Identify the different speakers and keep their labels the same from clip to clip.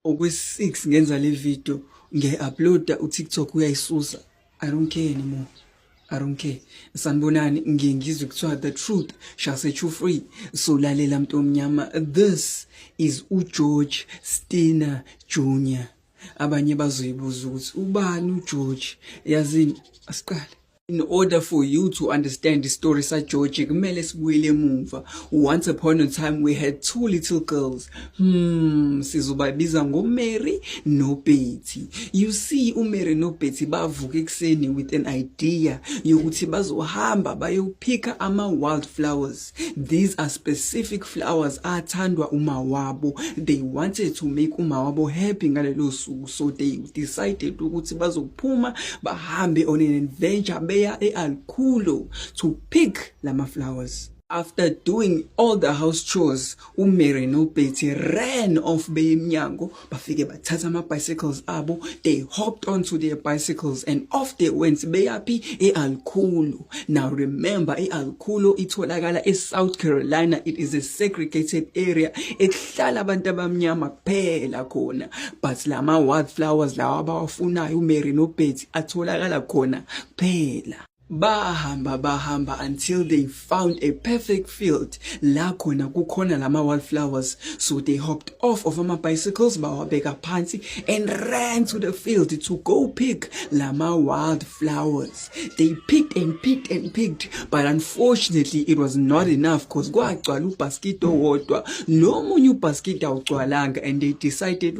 Speaker 1: okwe-6 ngenza le video ngiyayi-uploada utiktok uyayisusa i don't care anymore i don't care sanibonani ngiye ngizwe kuthiwa the truth shall set you free so lalela mntu omnyama this is ugeorge stina junior abanye bazoyibuza ukuthi ubani ugeorge yazini asiqale in order for you to understand the story sageorge kumele sibuyele emuva once upon a time we had two little girls hmm sizobabiza ngomary nobetty you see umary nobetty bavuka ekuseni with an idea yokuthi bazohamba bayophika ama-wildflowers These are specific flowers athandwa uma wabo. They wanted to make uma wabo happy ngalelo suku so they decided ukuthi bazophuma bahambe on an adventure beya eAlculo to pick lama flowers. After doing all the house chores, uMary noBetty ran off beyemnyango bafike bathatha ama bicycles abo they hopped onto their bicycles and off they went beyaphi eAlkhulu now remember eAlkhulu itholakala eSouth Carolina it is a segregated area ekuhlala abantu abamnyama kuphela khona but lama wildflowers lawa abawafunayo uMary noBetty atholakala khona kuphela bahamba bahamba until they found a perfect field la khona kukhona lama wildflowers so they hopped off of ama bicycles bawabeka phansi and ran to the field to go pick lama wildflowers they picked and picked and picked but unfortunately it was not enough because kwagcwala ubasket owodwa nomunye ubasket awugcwalanga and they decided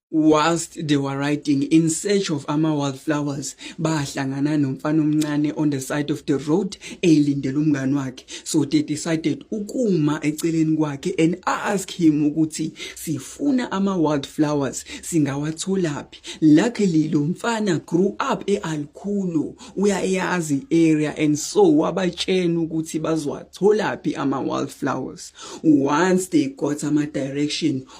Speaker 1: whilst they were riding in search of ama-wildflowers bahlangana nomfana omncane on the side of the road eyilindele umngane wakhe so they decided ukuma eceleni kwakhe and ask him ukuthi sifuna ama-wildflowers singawatholaphi luckily lo mfana grew up e-alkhulu uyayazi area and so wabatshena ukuthi bazowatholaphi ama-wildflowers once they got ama-direction